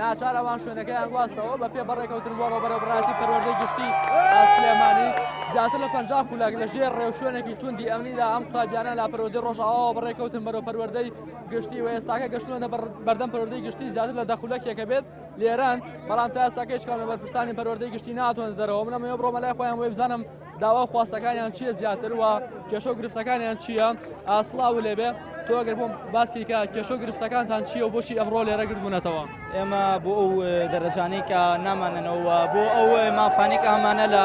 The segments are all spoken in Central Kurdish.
ناچار ئەوان شوێنەکەیان گواستەوە بە پێ بەڕێکەوتن بۆ ڕۆبەرەبراتی پەروەردەی گشتی ئاسلێمانی زیاتر لە پ خولک لە ژێر ڕێو شوێنێکی توندی ئەمنیدا ئەم قوتابیانە لا پەروەردەی ڕۆژاواوە بەڕێکەوتن بەرەو پەروەردەی گشتی و ئێستاکە گەشتوەنە بەردەم پەروەردەی گشتی زیاتر لە دەخولەکێکە بێت لێران بەڵام تا ئێستاکە هیچ کام لە بەرپرسانی پەروەردەی گشتی ناتوانێت دەرەوە منەمەوە بڕۆمە لای خۆیان وێ بزانم داوا و خواستەکانیان چییە زیاتر و کێشە و گرفتەکانیان چییە ئاسڵاو لێبێ تۆ گەر بۆم باسی کە کێشە و گرفتەکانتان چییە و بۆچی ئەمڕۆ لێرە گربوونەتەوە ئێمە بۆ ئەو دەرەجانەی کە نامانەوە بۆ ئەو مافانێک ئامانە لە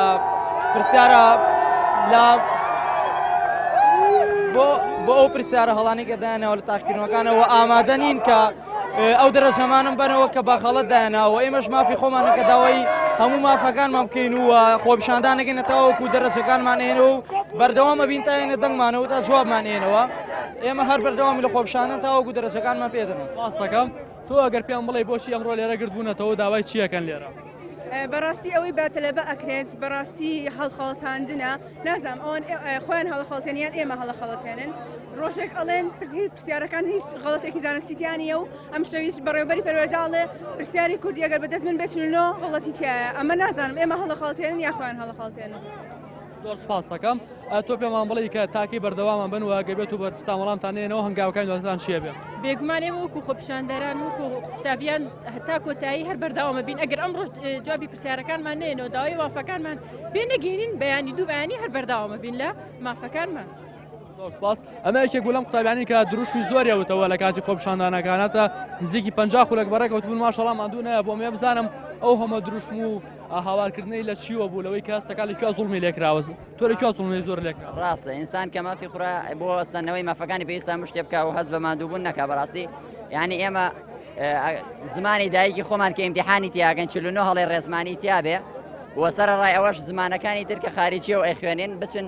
پرسیارە لە بۆ بۆ ئەو پرسیارە هەڵانی گەدایانەوە لە تاقیکردنەوەکانەوە ئامادە نین کە ئەو دەرەجەمانم بەرەوە کە بەغەڵت دایانناوە ئێمەش مافی خۆمانە کە داوای هەموو مافەکانمان بکەین و خۆپشاندانەکەی نەتاوەکو دەرەجەکانمان هێن و بەردەوامە بین تاێنە دەنگمانەوە تا جوابمان هێنەوە ئێمە هەر بەردەوام لە خۆپشانە تاوەکو دەرەجەکانمان پێدەن ڕاستەکەم تۆ ئەگەر پێم بڵێ بۆچی ئەمڕۆ لێرە گردبوونەتەوە داوای چیەکەن لێرە بەڕاستی ئەوەی باتەلەبە ئەکرێت بەڕاستی هەڵخەڵەتاندنە نازام ئەوان خۆیان هەڵخەڵتێن یان ئێمە هەڵەخەڵەتێنن ڕۆژێک ئەڵێن پرسی پرسیارەکان هیچ غڵەتێکی زانستیتیانە و ئەم شەویش بەڕێوبەری پەروەرداڵێ پرسیاری کوردی ئەگەر بەدەست من بچنەوە غڵەتی تایە ئەمە نازانم ئێمە هەڵەخەڵتێنن یاخوایان هەڵەخەڵتێنن. زۆر سپاست دەکەم تۆ پێمان بڵی کە تاکی بەردەوامان بن و گەبێت و بەرپسان وەڵامتان نێنەوە هەنگاوەکان دواتان چیە بێ بێگومان ئێمە وەکو خۆپیشاندەران وەکو قوتابیان هەتا کۆتایی هەر بەرداوامە بین ئەگەر ئەم ڕۆژ جوابی پرسیارەکانمان نێنەوە داوای وافەکانمان بێ نەگەینین بەیانی دوو بەیانی هەر بەرداوامە بین لە مافەکانمان. زۆر سپاس ئەمە یەکێک بوو لەم قوتابیانی کە دروشمی زۆری وتەوە لە کاتی خۆپشاندانەکانەتە نزیکی پ خولک بەڕێکەوت بوون ماشەڵام مادوو نایە بۆم ێ بزانم ئەو هەمە دروشم و هاوارکردنەی لە چیوە بوو لەوەی کەستەکە لە زوڵمی لێکراوەز تۆ لە زوڵمی زۆر لێک ڕاستە ئینسان کە مافی خورا بۆ سەنەوەی مافەکانی پێستا مشتێ بکە و هەز بە مادووبوون نەکە بەڕاستی یعنی ئێمە زمانی دایکی خۆمان کە ئیمتحانی تیاگەن چ هەڵێ ڕێزمانی تیاابێ وە سەر ڕای ئەوەش زمانەکانی ترکە خارجیە و ئەخوێنێن بچن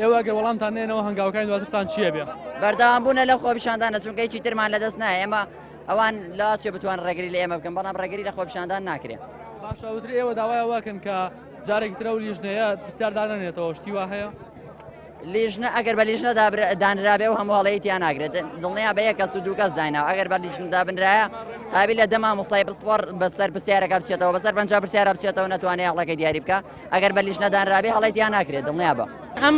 ئێوە گەر وەڵامتان نێنەوە هەنگاوەکانی دواترتان چیە بێ؟ بەردەوام بوونە لە خۆپیشاندانە چونکە هیچی ترمان لە دەست نایە ئێمە ئەوان لاچێ بتوان ڕێگری لە ئێمە بکەن بەڵام ڕێگری لە خۆپیشاندان ناکرێت باشەوتر ئێوە داوای واکەن کە جارێک ترە و لیژنەیە پرسیار دانێتەوە شتی وا هەیە لیژنە ئەگەر بە لیژنە دانرابێ و هەمواڵەیە تیا ناگرێت دڵنیا بە یە کەس و دوو کەس دایناوە ئەگەر بە لیژندا بنرایە قابل لە دەما مستای پسپۆر بەسەر پرسیارەکە بچێتەوە بەسەر پەنج پرسیارە بچێتەوە نتوانێت یاڵەکە دیاری بکە ئەگەر بە لیژنە دانرابێ هەڵەی تیا ناکرێت دڵنیا بە. ئەم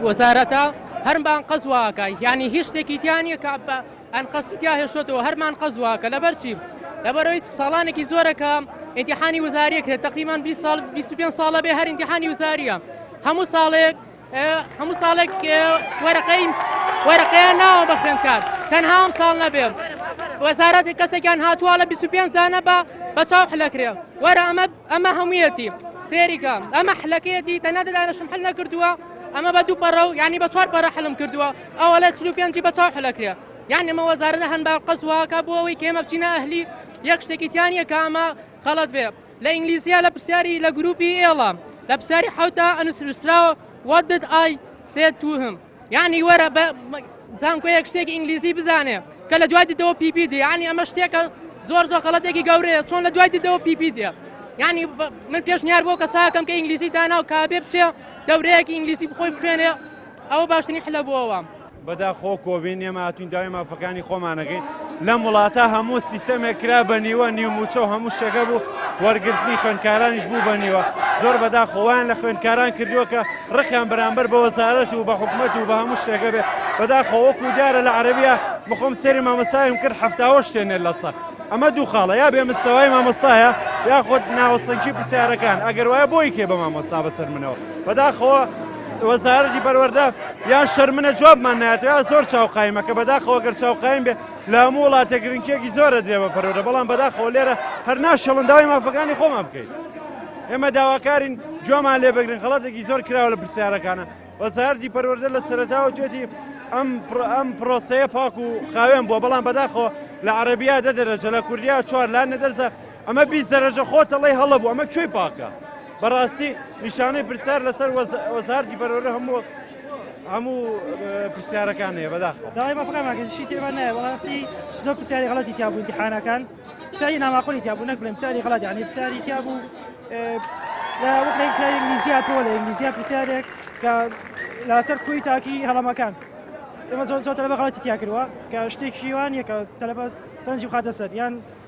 وەزارەتە هەر مانقەز واکە یانی هیچ شتێکی تیا نییە کە بە ئەنقەستی تیا هێشتەوە هەر مانقەز واکە لەبەر چی لەبەرەوەی ساڵانێکی زۆرەکە ئینتیحانی وزاریە کرێت تقریمان 20 ساڵ 25 ساڵە بێ هەر ئینتیحانی وزاریە هەموو ساڵێک هەموو ساڵێک وەرەقەی وەرەقەیان ناوە بە خوێندکار تەنها ئەم ساڵ نەبێ وەزارەتی کەسێکیان هاتووە لە 25 دانە بە بە چاو حلەکرێ وەرە ئەمە ئەمە هەموویەتی سێریکە ئەمە حلەکەیەتی تەنە دەدانشم حل نەکردووە ئەمە بە دوو پەڕە و یعنی بە چوار پەرە حلم کردووە ئەوە لە چلو پێنجی بە چاو حلەکرێ یان ئەمە وەزارە هەن بە قەزواکە بۆ ئەوەی کێمە بچینە ئەهلی یەک شتێکیتیان یەکە ئەمە خەڵەت بێ لە ئینگلیزیە لە پرسیاری لە گروپی ئێڵە لە پرسیاری حوتە ئەنوسراوە What did I say to him یعنی وەرە بە زانکۆیەک شتێکی ئینگلیزی بزانێ کە لە دوای دیدەوە پیپی دی ینی ئەمە شتێکە زۆر زۆر غەڵەتێکی گەورەیە چۆن لە دوای دیدەوە پیپی دێ ینی من پێشنیار بۆ کەساکەم کە ئینگلیزی دانا و کابێ بچێ دەورەیەکی ئینگلیزی بخۆی بخوێنێ ئەوە باشترین حلە بۆەوە بەدا خۆ کۆبین ئێمە هاتوین داوای مافەکانی خۆمانەکەین لەم وڵاتە هەموو سیسەمێک کرا بە نیوە نیو موچە و هەموو شەکە بوو وەرگرتنی خوێنکارانیش بوو بە نیوە زۆر بەدا خۆیان لە خوێنکاران کردووە کە ڕقیان بەرامبەر بە وەزارەت و بە حکومت و بە هەموو شتێکە بێ بەدا خۆوەک و دیارە لە عربیە بخۆم سەری مامەسایم کرد هەفتاوە شتێنێ لەسە ئەمە دوو خاڵە یا بێ مستەوای مامەسایە یاخود ناوەسەنکی پرسیارەکان ئەگەر وایە بۆی کێ بە مامەسا بەسەر منەوە بەداخەوە وەزارەتی پەروەردە یا شەرمنە جوابمان ناتوێ زۆر چاو قایمە کە بەداخەوە گەر چاو قایم بێ لە هەموو وڵاتە گرنگێکی زۆرە درێ بە پەرۆدە بەڵام بەداخەوە لێرە هەر ناشەڵن داوای مافەکانی خۆمان بکەین ئێمە داواکارین جۆمان لێ بگرن خڵاتێکی زۆر کراوە لە پرسیارەکانە وەزارتی پەروەردە لە سەرتاوە توێتی ئەم ئەم پرۆسەیە پاک و خاوێن بووە بەڵام بەداخۆ لە عربیا دە دەرەجە لە کوردیا چوار لا نەدەرزە ئەمە بی زەرەژە خۆت ئەڵێی هەڵە بوو ئەمە کوێی پاکە بەڕاستی نیشانەی پرسیار لەسەر وەزارتی بەرەورە هەموو هەموو پرسیارەکان هەیە بەداخەوە داوای بەفراماکەشی تێبە نایە بەڕاستی زۆر پرسیاری غڵەتی تیابوو دیحانەکان پرسیاری ناماقۆلی تیابوو نەک بڵێم پرسیاری غڵەت یعنی پرسیاری تیابوو لە وەکرێک کە ئینگلیزیا تۆ لە ئینگلیزیا پرسیارێک کە لاسەر کوی تاکی هەڵەمەکان ئێمە زۆر زۆر تەلەبە غڵەتی تیا کردووە کە شتێکیوان یەکە تەلەبە سەرنجی خاتە سەر یان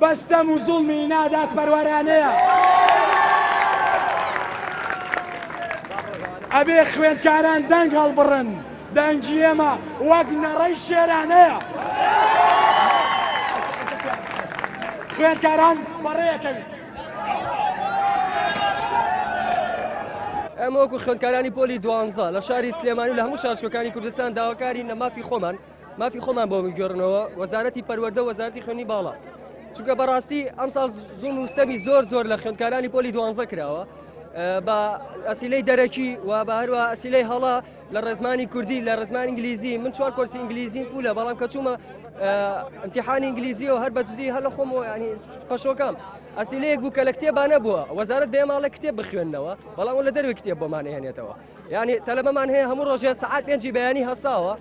بە ستەم و زوڵمی نادادپەروەرانەیە. ئەبێ خوێندکاران دەنگ هەڵبڕن، دەنگی ئێمە وەک نەڕەی شێرانەیە. خوێندکاران بەڕێکەوی. ئێمە وەکو خوێندکارانی پۆلی دوانزە لە شاری سلێمانی و لە هەموو شارچکەکانی کوردستان داواکارین لە مافی خۆمان، مافی خۆمان بۆ بگۆڕنەوە وەزارەتی پەروەەردە وەزارتی خوێنی باڵا چونکە بەڕاستی ئەم ساڵ زوم وستەمی زۆر زۆر لە خوێندکارانی پۆلی دوانزە کراوە بە ئەسیلەی دەرەکی و بە هەروە ئەسیلەی هەڵا لە ڕێزمانی کوردی لە ڕزمان ئینگلیزی من چوار کۆرسی ئینگلیزیم فولە بەڵام کە چوومە امتحانی ئینگلیزی و هەر بەدزی هەر لە خۆم ینی پەشۆکەم ئەسیلەیەک بوو کە لە کتێبانە بووە وەزارت بێماڵە کتێب بخوێندنەوە بەڵام لە دەروی کتێب بۆمانێنێتەوە یانی تەلەبەمان هەیە هەموو ڕۆژێ سەعات پێنجی بەیانی هەساوە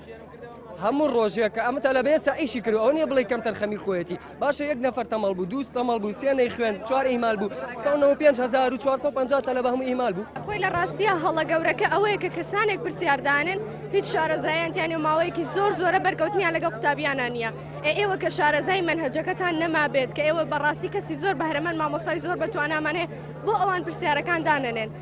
هەموو ڕۆژێک کە ئەمە تەلەبێ سەعیشی کرد ئەو نیە بڵی کەم تەرخەمی خۆەتی باشە یەک نەفەر تەمەڵ بوو دووست تەمەڵ بوو سێنەی خوێن چوار ئیمال بوو 1950 تەلە بە هەموو ئیمال بوو خۆی لە ڕاستیە هەڵە گەورەکە ئەوەیە کە کەسانێک پرسیاردانن هیچ شارەزایانتیانی و ماوەیەکی زۆر زۆرە بەرکەوتنیان لەگە قوتابیانە نیە ئێوە کە شارەزای منهجەکەتان نەمابێت کە ئێوە بەڕاستی کەسی زۆر بەهرەمەند مامۆسای زۆر بەتوانامانێ بۆ ئەوان پرسیارەکان دانەنێن.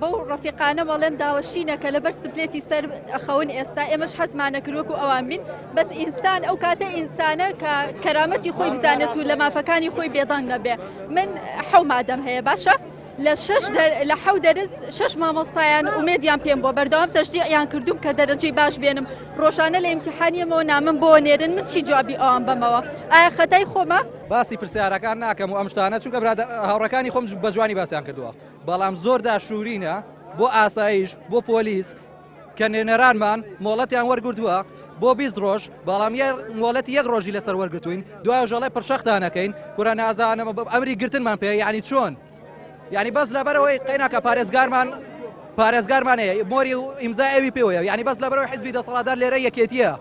بەو ڕەفیقانەم ئەڵێم داوەشینە کە لەبەر سپلێتی سەر ئەخەون ئێستا ئێمەش حەزمانە کرد وەکو ئەوان بین بەس ئینسان ئەو کاتە ئینسانە کە کەرامەتی خۆی بزانێت و لە مافەکانی خۆی بێدەنگ نەبێ من حەو مادەم هەیە باشە لە شش لە حەو دەرز شش مامۆستایان ئومێدیان پێم بۆ بەردەوام تەشجیعیان کردوم کە دەرەجەی باش بێنم ڕۆژانە لە ئیمتحانیەمەوە نامم بۆ نێرن من چی جوابی ئەوان بەمەوە ئایا خەتای خۆمە باسی پرسیارەکان ناکەم و ئەم شتانە چونکە برادە هاوڕەکانی خۆم بە جوانی باسیان کردووە. بەڵام زۆر داشورینە بۆ ئاسایش بۆ پۆلیس کە نوێنەرانمان مۆڵەتیان وەرگرتووە بۆ بیست ڕۆژ بەڵام یە مۆڵەتی یەک ڕۆژی لەسەر وەرگتوین دوای ژەڵی پرشەختانەکەین کورە نازانم بە ئەمری گرتنمان پێ یعنی چۆن یعنی بەس لەبەرەوەی قەیناکە پارێزگارمان پارێزگارمان هەیە مۆری و ئیمزا ئەوی پێوەیە یعنی بەس لەبەرەوەی حزبی دەسەڵاتدار لێرە یەکێتیە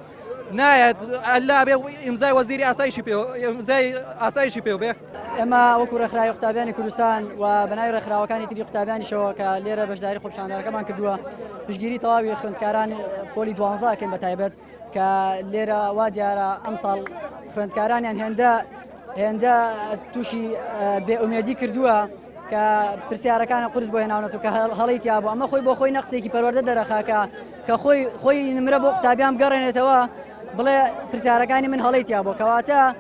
نایەت ئەلا بێ ئیمزای وەزیری ئاسایشی پێ ئیمزای ئاسایشی پێ بێ ئێمە وەکو ڕێکخراوی قوتابیانی کوردستان و بەناوی ڕێکخراوەکانی تری قوتابیانیشەوە کە لێرە بەشداری خۆپشاندانەکەمان کردووە پشگیری تەواوی خوێندکاران پۆلی دوانزاکەن بە تایبەت کە لێرە وا دیارە ئەمساڵ خوێندکارانیان هێندە هێندە تووشی بێئومێدی کردووە کە پرسیارەکانە قرس بۆ هێناونەتو کە هەڵی تیا بۆ ئەمە خۆی بۆ خۆی نەقسێکی پەروەەردە دەرەخاکە کە خۆی خۆی نمرە بۆ قوتابیان گەڕێنێتەوە بڵێ پرسیارەکانی من هەڵی تیا بۆ کەواتە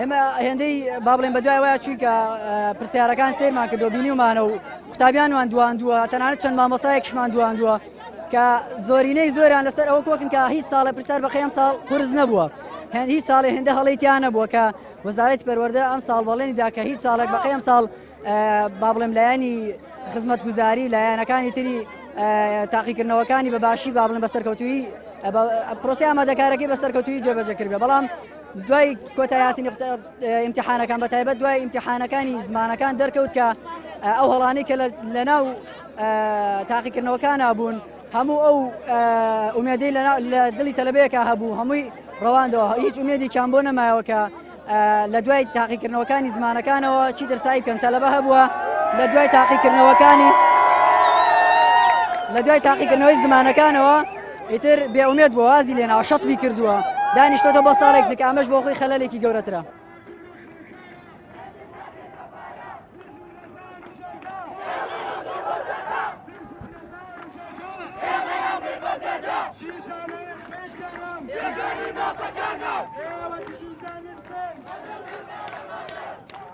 ئێمە هێندەی با بڵێن بە دوای وایە چوویکە پرسیارەکان سێرمان کردو بینیمانە و قوتابیانوان دواندووە تەنانەت چەند مامۆسایەکشمان دواندووە کە زۆرینەی زۆران لەسەر ئەوە کۆکن کە هیچ ساڵە پرسیار بەخەم ساڵ قرس نەبووە هەند هیچ ساڵێ هێندە هەڵیتیان نەبووە کە وەزارەتی پەروەەردە ئەم ساڵ بەڵێنیدا کە هیچ ساڵێک بەقی ئەم ساڵ با بڵێم لایەنی خزمەت گوزاری لایەنەکانی تری تاقیکردنەوەکانی بە باشی بابلن بە سەرکەوتوی پرۆسی ئامادەکارەکەی بە سەرکەوتوی جێبەجەکرد بەڵام دوای کۆتای هاتنی ئیمتحانەکان بەتایبەت دوای ئیمتحانەکانی زمانەکان دەرکەوت کە ئەو هەڵانی کە لە ناو تاقیکردنەوەکانە بوون هەموو ئەو ئومێدەی لە دڵی تەلبەیەکە هەبوو هەمووی ڕەواندەوە هیچ ئومێدی چیان بۆ نەمایەوەکە لە دوای تاقیکردنەوەکانی زمانەکانەوە چی دەرسایی پێم تەلەبە هەبووە لە دوای تاقیکردنەوەکانی لە دوای تاقیکردنەوەی زمانەکانەوە ئیتر بێ ئومێد بۆ وازی لێناوە شەتبی کردووە دانیشتۆتە بۆ ساڵێک دیکە ئەمەش بۆ خۆی خەلەلێکی گەورەترە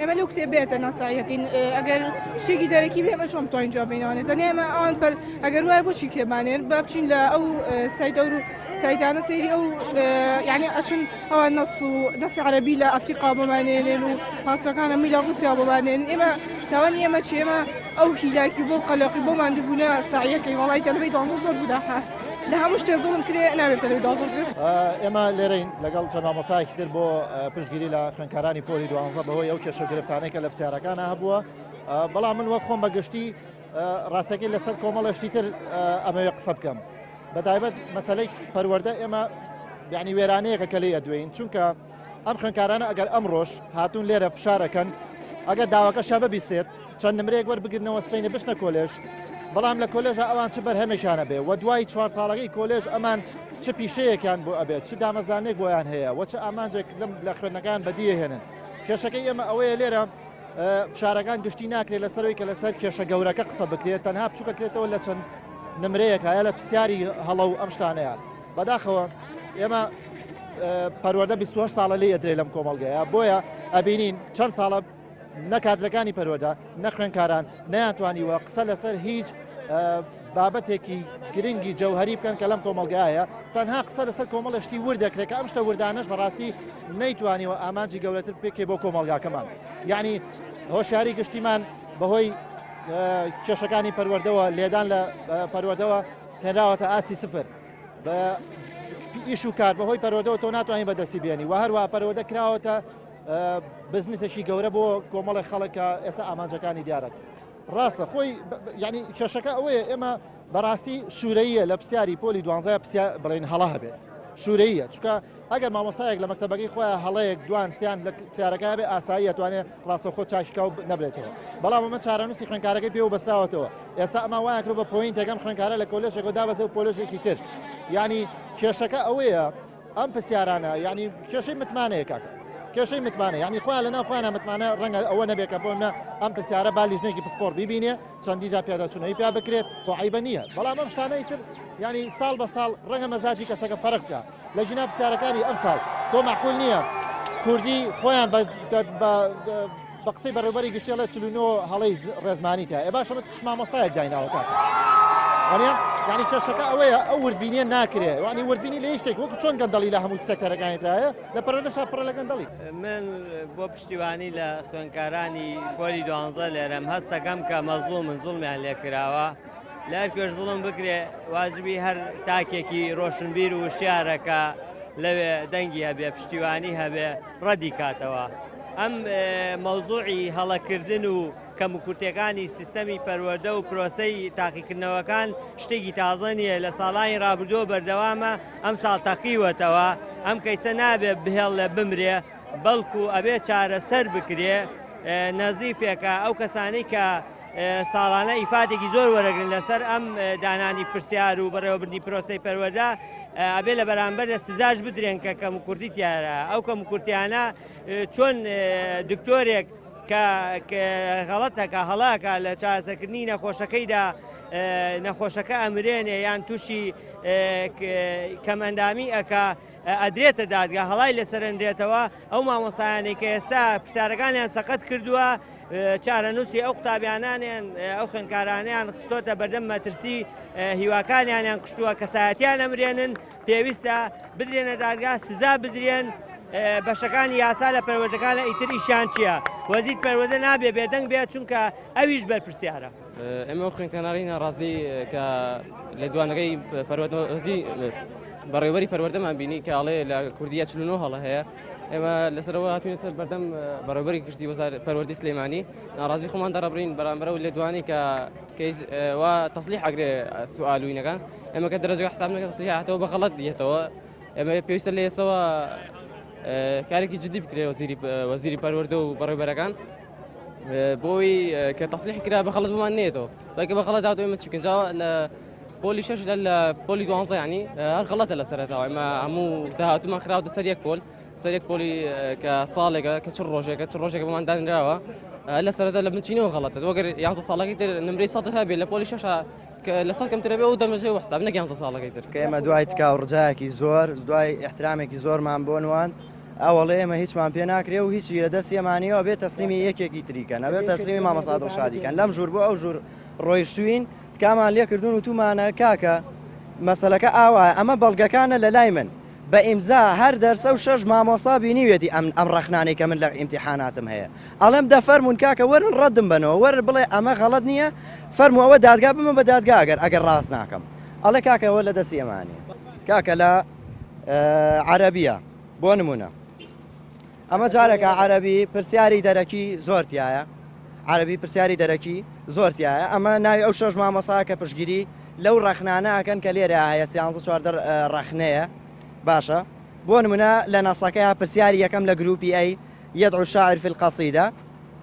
ئێمە لەو کتێب بێتە ناسایەکەین ئەگەر شتێکی دەرەکی بێمە چۆم توانین جواب بینەوەێت دەنێ ئێمە ئەوان پەر ئەگەر وایە بۆچی کتێبانێن با بچین لە ئەو سایدە و سایدانە سەیری ئەو یعنی ئەچن ئەوان نەس و دەسی عربی لە ئەفریقا بمانێنێن و پاسەکانە می لە ڕوسیا بمانێن ئێمە تاوانی ئێمە چێمە ئەو هیلاکی بۆ قەلەقی بۆ مادبوونە ساعیەکەی وڵی دەلبی دانزۆ زۆر بوداحە لە هەموو شتێ زوڵم کرێ ناوێت تەلەویدازم ئێمە لێرەین لەگەڵ چەند مامۆسایەکی تر بۆ پشتگیری لە خوێنکارانی پۆلی دوانزە بەهۆی ئەو کێشە گرفتانێکە لە پرسیارەکانە هەبووە بەڵام من وەک خۆم بەگشتی ڕاستەکەی لەسەر کۆمەڵەشتی تر ئەمەوێ قسە بکەم بەتایبەت مەسلەی پەروەەردە ئێمە بیانی وێرانەیەەکە کە لێ ئەدوێن چونکە ئەم خوێندکارانە ئەگەر ئەمڕۆش هاتوون لێرە فشار ئەکەن ئەگەر داواکەشیان ببیسێت چەند نمرەیەک وەربگرنەوە سبەینێ بچنە کۆلێژ بەڵام لە کۆلێژە ئەوان چ بەرهەمێکیان هەبێ و دوای چوار ساڵەکەی کۆلێژ ئەمان چ پیشەیەکیان بۆ ئەبێت چ دامەزانێک بۆیان هەیە و چ ئامانجێک لەم لە خوێندنەکان بەدیە هێنن کێشەکەی ئێمە ئەوەیە لێرە فشارەکان گشتی ناکرێت لەسەرەوەی کە لەسەر کێشە گەورەکە قسە بکرێت تەنها بچووکەکرێتەوە لە چەند نمرەیەک هەیە لە پرسیاری هەڵە و ئەم شتانەیە بەداخەوە ئێمە پەروەردە 28 ساڵە لێ ئەدرێ لەم کۆمەڵگەیە بۆیە ئەبینین چەند ساڵە نەکاتەکانی پەروەدا نەخوێنکاران نەیانتوانیوە قسە لەسەر هیچ بابەتێکی گرنگی جەوهری بکەن کە لەم کۆمەلگایە تەنها قسە لەسەر کۆمەڵشتی ور دەکرێت کە ئەم شتە وردانش بەڕاستی نەیتوانیوە ئامانجی گەورەتر پێکێ بۆ کۆمەلگاکەمان یعنی هۆشیاری گشتیمان بەهۆی کێشەکانی پەروەردەوە لێدان لە پەروەردەوە هێنراوەتە ئاسی سفر بە ئیش و کار بەهۆی پەرۆدەوە تۆ ناتوانانی بەدەستی بێنی و هەروە پەرۆدە کراوەتە بزنسێکی گەورە بۆ کۆمەڵی خەڵکە ئێستا ئامانجەکانی دیارەت ڕاستە خۆی ینی کێشەکە ئەوەیە ئێمە بەڕاستی شوورەیە لە پرسیاری پۆلی دوانزای پرسیا بڵێن هەڵا هەبێت شوورەیە چکە ئەگەر مامۆستایەک لە مەکتەبەکەی خۆیان هەڵەیەک دوان سیان لە کچارەکە بێ ئاسایی ئەتوانێ ڕاستەوخۆ چاکیکا و نەبرێتەوە بەڵام ئەمە چارەنووسی خوێنکارەکەی پێوە بەسراوەتەوە ئێستا ئەمە وایان کرد بە پۆینتێک ئەم خوێنکارە لە کۆلێژێکەوە دابەزێ و پۆلێژێکی تر یعنی کێشەکە ئەوەیە ئەم پرسیارانە یعنی کێشەی متمانەیە کاکە کێشەی متمانە یعنی خوا لە ناو خوانە متمانە ڕەنگە ئەوە نەبێت کە بۆمە ئەم پرسیارە با لیژنێکی پسپۆر ببینێ چەندی جا پیاداچوونەوەی پیا بکرێت خۆعیبە نییە بەڵام ئەم شتانەی تر ینی ساڵ بە ساڵ ڕەنگە مەزاجی کەسەکە فەرق بکە لە جینا پرسیارەکانی ئەمساڵ تۆ مەعقول نییە کوردی خۆیان بە قسەی بەڕێوبەری گشتێڵێت چلوینۆ هەڵی ڕێزمانی تا ئێ باشە من تشمامۆستایەک دایناوەکە یعنی کێشەکە ئەوەیە ئەو وردبینیە ناکرێ وانی وردبینی لە شتێک وەکو چۆن گەندەڵی لە هەموو سەکتەرەکانیتایە لە پەرۆدەشا پڕە لە گەندەڵی من بۆ پشتیوانی لە خوێنکارانی پۆلی دوانزە لێرەم هەستەکەم کە مەزلوو من زوڵمیان لێکراوە. لەهەر کوێش زوڵم بکرێ واجبی هەر تاکێکی ڕۆشنبیر و وشیارەکە لەوێ دەنگی هەبێ پشتیوانی هەبێ ڕەدی کاتەوە ئەم مەوزوعی هەڵەکردن و کەمکورتەکانی سیستەمی پەروەدە و پرۆسەی تاقیکردنەوەکان شتێکی تازە نییە لە ساڵانی رابردووە بەردەوامە ئەم ساڵ تەقیوەتەوە ئەم کەیسە نابێ بهێڵ لە بمرێ بەڵکو ئەبێ چارەسەر بکرێ نەزیفێکە ئەو کەسانی کە ساڵانە ئیفادێکی زۆر وەرەگرن لەسەر ئەم دانانی پرسیار و بەڕێوەبردنی پرۆسەی پەروەدا ئەبێ لە بەرامبەردا سزاش بدرێن کە کەم و کوردی تیارە ئەو کەم و کورتیانە چۆن دکتۆرێک کە غەڵەتەکە هەڵاکە لە چاسەکردنی نەخۆشەکەیدا نەخۆشەکە ئەمرێنێ یان تووشی کەمەندامی ئەک ئەدرێتە دادگە هەڵای لەسەرنرێتەوە ئەو مامۆستایانەی کە ئێستا پرسیارەکانیان سەقەت کردووە چارەنووسی ئەو قوتابیانانیان ئەو خوێنکارانیان خستۆتە بەردەم مەترسی هیواکانیانیان کوشتووە کەسایەتیان ئەمرێنن پێویستە بدرێنە دادگا سزا بدرێن بەشەکانی یاسا لە پەروەردەکان لە ئیتر ئیشان چییە وەزیر پەروەدە نابێ بێدەنگ بێت چونکە ئەویش بەرپرسیارە ئێمە ئەو خوێنکەناری ناڕازی کە لە دوانەکەی پەروەردەزی بەڕێوەری پەروەردەمان بینی کاڵێ لە کوردیا چلنەوە هەڵە هەیە ئێمە لەسەرەوە هاتوێتە بەردەم بەڕێوەری گشتی وەزار پەروەردی سلێمانی ناڕازی خۆمان دەڕبرین بەرامبەر و لێدوانی کە کەیش و تەسلی حەگرێ سوالوینەکان ئەمە کە دەرەجە حساب نەکە تەسلی هاتەوە بە غەڵەت یەتەوە ئەمە پێویستە لە ئێسەوە کارێکی جدی بکرێ وەزیری وەزیری پەروەردە و بەڕێبەرەکان بۆی کە تەسلیح کرا بە خەڵت بمان نێتەوە بەکە بە خەڵەت داوای مەچ بکەن جاوە لە پۆلی شش لە لە پۆلی دوانزە ینی هەر خەڵەتە لە سەرەتەوە ئەمە هەموو داهاتومان خراوە سەر یەک پۆل سەرێک پۆلی کە ساڵێکە کە چ ڕۆژێکە چ ڕۆژێک بەمان دانراوە لە سەرەتا لە بنچینەوە غڵەتە وەگەر یانزە ساڵەکەی تر نمری سە هەبێ لە پۆلی شەشە لە سەد کەمترە بێ و دەمەژێ وەستا نەگەیانزە ساڵەکەی تر کە ئێمە دوای تکاو ڕجایەکی زۆر دوای احترامێکی زۆرمان بۆ نوان ئەوەڵێ ئێمە هیچمان پێ ناکرێ و هیچی لە دەستی ئێمە نییە ئەبێ تەسلیمی یەکێکی تری کەن ئەبێ تەسلیمی مامۆستا دڵشادی کەن لەم ژوور بۆ ئەو ژوور ڕۆیشتوین تکامان لێ کردوون و تومانە کاکە مەسەلەکە ئاوایە ئەمە بەڵگەکانە لە لای من بە ئیمزا هەر دەرسە و شەش مامۆستا بینیوێتی ئەم ئەم ڕەخنانەی کە من لە ئیمتیحاناتم هەیە ئەڵێم دە فەرموون کاکە وەرن ڕەدم بەنەوە وەر بڵێ ئەمە غەڵەت نییە فەرموو ئەوە دادگا بمە بە دادگا ئەگەر ئەگەر ڕاست ناکەم ئەڵێ کاکە ئەوە لە دەستی ئێمە نییە کاکە لە عەرەبیە بۆ نمونە ئەمە جارێکە عەرەبی پرسیاری دەرەکی زۆرتیایە عەربی پرسیاری دەرەکی زۆرتیایە ئەمە ناوی ئەو شەش مامەسا کە پشگیری لەو ڕەخنانە ئەکەن کە لێرە هەیە سیانزە چواردە ڕەخنەیە باشە بۆ نمونە لە ناسەکە پرسیاری یەکەم لە گروپی ئەی یەد عشاعر في القصیدە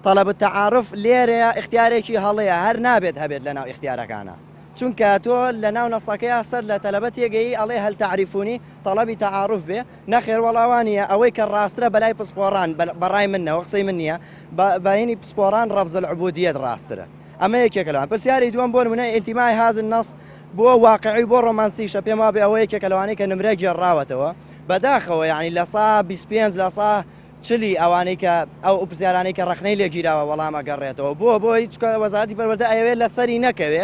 طلب التعارف لێرەیە اختیارێکی هەڵەیە هەر نابێت هەبێت لە ناو اختیارەکانە چونکە تۆ لە ناو نەسەکەیا سەر لە تەلەبە تێگەیی ئەڵێ هەل تەعریفونی تەڵەبی تەعاروف بێ نەخێر وەڵا وا نییە ئەوەی کە ڕاسترە بەلای پسپۆڕان بە ڕای من نەوە قسەی من نییە بە بەینی پسپۆڕان ڕەفز العبودیەت ڕاسترە ئەمە یەکێکە لەوان پرسیاری دووەم بۆ نمونە ئینتیمای هاذ النەص بۆ واقعی بۆ ڕۆمانسیشە پێم وابێ ئەوە یەکێکە لەوانەی کە نمرە گێڕاوەتەوە بەداخەوە یعنی لە سا بیست پێنج لە سا چلی ئەوانەی کە ئەو پرسیارانەی کە ڕەخنەی لێ گیراوە وەڵام ئەگەڕێتەوە بۆ بۆی چونکە وەزارەتی پەروەردە ئەیەوێ لە سەری نەکەوێ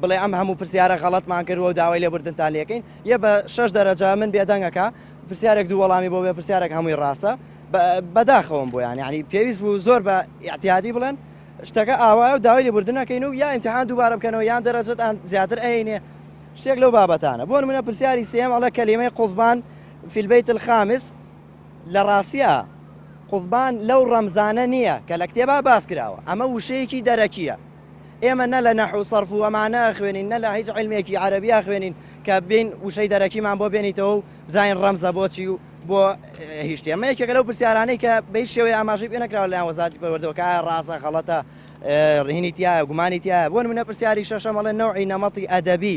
بڵێ ئەم هەموو پرسیارە غەڵەتمان کردووە و داوای لێبوردنتان لێکەین یە بە شەش دەرەجە من بێدەنگە کە پرسیارێک دوو وەڵامی بۆ بێ پرسیارێک هەمووی ڕاستە بەداخەوەم بۆیان یعنی پێویست بوو زۆر بە ئیعتیادی بڵێن شتەکە ئاوایە و داوای لێبوردن نەکەین و یا ئیمتحان دووبارە بکەنەوە یان دەرەجەتان زیاتر ئەینێ شتێک لەو بابەتانە بۆ نمونە پرسیاری سێم ئەڵە کەلیمەی قوزبان فی البیت الخامس لە ڕاستیا قوتبان لەو ڕەمزانە نییە کە لە کتێبا باس کراوە، ئەمە وشەیەکی دەرەکییە. ئێمە نە لە نەحو و سەرف و ئەمانە ئەخوێنین، نە لە هیچ عیلمێکی عەرەبی ئەخوێنین کە بێین وشەی دەرەکیمان بۆ بێنیتەوە و بزانین ڕەمزە بۆ چی و بۆ هیشتی. ئەمە یەکێکە لەو پرسیارانەی کە بە هیچ شێوەیە ئاماژەی پێ نەکراوە لەلایەن وەزارەتی پەروەردەوە کە ئایا ڕاستە، غەڵەتە، ڕهینی تیایە، گومانی تیایە. بۆ نموونە پرسیاری شەشەم ئەڵێ نەوعی نەمەتی ئەدەبی.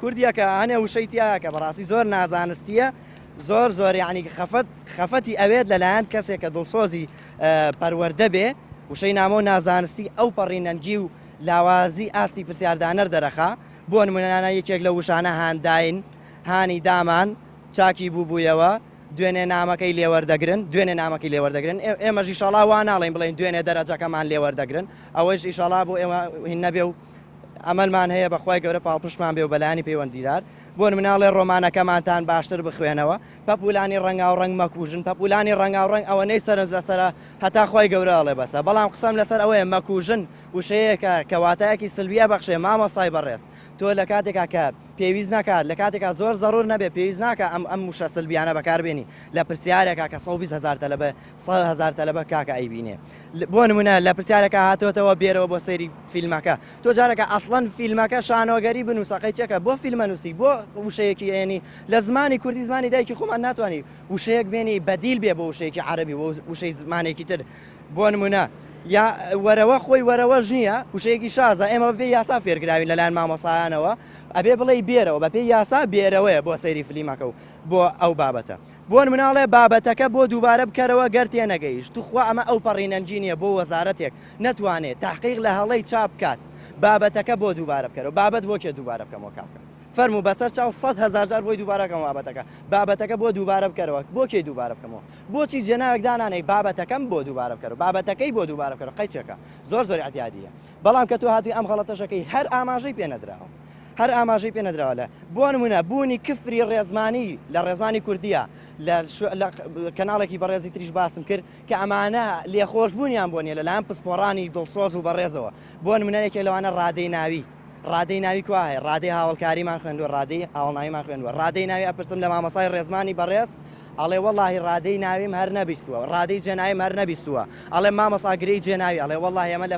کوردیە کە هەنێ وشەی تیایە کە بەڕاستی زۆر نازانستیە زۆر زۆر یعنی خەفەت خەفەتی ئەوێت لەلایەن کەسێک کە دڵسۆزی پەروەردە بێ وشەی نامۆ نازانستی ئەو پەڕی نەنگی و لاوازی ئاستی پرسیاردانەر دەرەخا بۆ نمونەنانە یەکێک لە وشانە هانداین هانی دامان چاکی بووبوویەوە دوێنێ نامەکەی لێوەردەگرن دوێنێ نامەکەی لێوەردەگرن ئێمەژی شڵا وا ناڵین بڵین دوێنێ دەرەجەکەمان لێوەردەگرن ئەوەیش ئیشڵا بۆ ئێمە هین نەبێ و ئەمەلمان هەیە بەخوای گەورە پاڵپشتمان بێ و بەلایەنی پەیوەندیدار بۆ مناڵێ ڕۆمانەکەمانتان باشتر بخوێنەوە پەپولانی ڕەنگاو ڕەنگ مەکوژن پەپولانی ڕەنگاو ڕەنگ ئەوە نەی سەرنج لەسەرە هەتا خوای گەورە ئەڵێ بەسە بەڵام قسەم لەسەر ئەوەیە مەکوژن وشەیەکە کەواتایەکی سلویە بەخشێ مامۆسای بەڕێز تۆ لە کاتێکا کە پێویست ناکات لە کاتێکا زۆر زەڕور نەبێ پێویست ناکە ئەم ئەم وشە سلبیانە بەکاربێنی لە پرسیارێکا کە سەوبیست هەزار تەلەبە سەد هەزار تەلەبە کاکە ئەیبینێ بۆ نمونە لە پرسیارەکە هاتۆتەوە بێرەوە بۆ سەیری فیلمەکە تۆ جارەکە ئەسڵەن فیلمەکە شانۆگەری بنووسەقەی چێکە بۆ فیلمە نووسی بۆ وشەیەکی ئێنی لە زمانی کوردی زمانی دایکی خۆمان ناتوانانی وشەیەک بێنی بەدیل بێ بۆ وشەیەکی عربی بۆ وشەی زمانێکی تر بۆ نمونە یا وەرەوە خۆی وەرەوە ژنیە وشەیەکی شازە ئێمە بەبێ یاسا فێرگراوین لەلایەن مامۆسایانەوە ئەبێ بڵێ بێرەوە بەپێی یاسا بێرەوەیە بۆ سەیری فلیمەکە و بۆ ئەو بابەتە بۆن مناڵێ بابەتەکە بۆ دووبارە بکەرەوە گەر تێنەگەیشت توخوا ئەمە ئەوپەڕی نەنگی نیە بۆ وەزارەتێک نەتوانێ تەحقیق لە هەڵەی چاپ بکات بابەتەکە بۆ دووبارە بکەرەوە بابەت بۆ کێ دووبارە بکەمەوە کاکە فەرموو بەسەر چاو سەد هەزار جار بۆی دووبارە کەم وابەتەکە بابەتەکە بۆ دووبارە بکەرەوە بۆ کێی دووبارە بکەمەوە بۆچی جێناوێک دانانێی بابەتەکەم بۆ دووبارە بکەرەوە بابەتەکەی بۆ دووبارە بکەرەوە قەیچەکە زۆر زۆر ئیعتیادیە. بەڵام کە تۆ هاتووی ئەم غەڵەتەش ئەکەی هەر ئاماژەی پێ نەدراوە هەر ئاماژەی پێ نەدراوە لە بۆ نموونە بوونی کفری ڕێزمانی لە ڕێزمانی کوردییە لە کەناڵێکی بەڕێزی تریش باسم کرد کە ئەمانە لێخۆشبوونیان بۆ نیە لەلایەن پسپۆڕانی دڵسۆز و بەڕێزەوە بۆ نمونە یەکێ لەوانە ڕادەی ناوی ڕادەی ناوی کو هەیە ڕادەی هاوڵکاریمان خوێندوە ڕادەی هاوڵناویمان خوێندوە ڕادەی ناوی ئەپرسم لە مامۆسای ڕێزمانی بەڕێز ئەڵێ وەڵاهی ڕادەی ناویم هەر نەبیستووە ڕادەی جێناویم هەر نەبیستووە ئەڵێم مامۆستا گرێی جێناوی ئەڵێ وەڵاهی ئەمە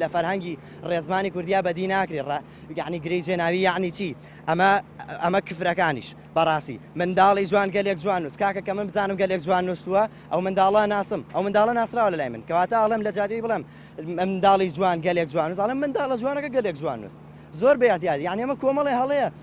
لە فەرهەنگی ڕێزمانی کوردیا بەدی ناکرێ ڕا یەعنی گرێی جێناوی یەعنی چی ئەمە ئەمە کفرەکانیش بەڕاستی منداڵی جوان گەلێک جوان نووس کاکە کە من بزانم گەلێک جوان نووسووە ئەو منداڵە ناسم ئەو منداڵە ناسراوە لەلای من کەواتە ئەڵێم لە جادوی بڵێم منداڵی جوان گەلێک جوان نووس ئەڵێم منداڵە جوانەکە گەلێک جوان نووس زۆر بێ ئەتیاد یعنی ئەمە کۆمەڵێ هەڵەیە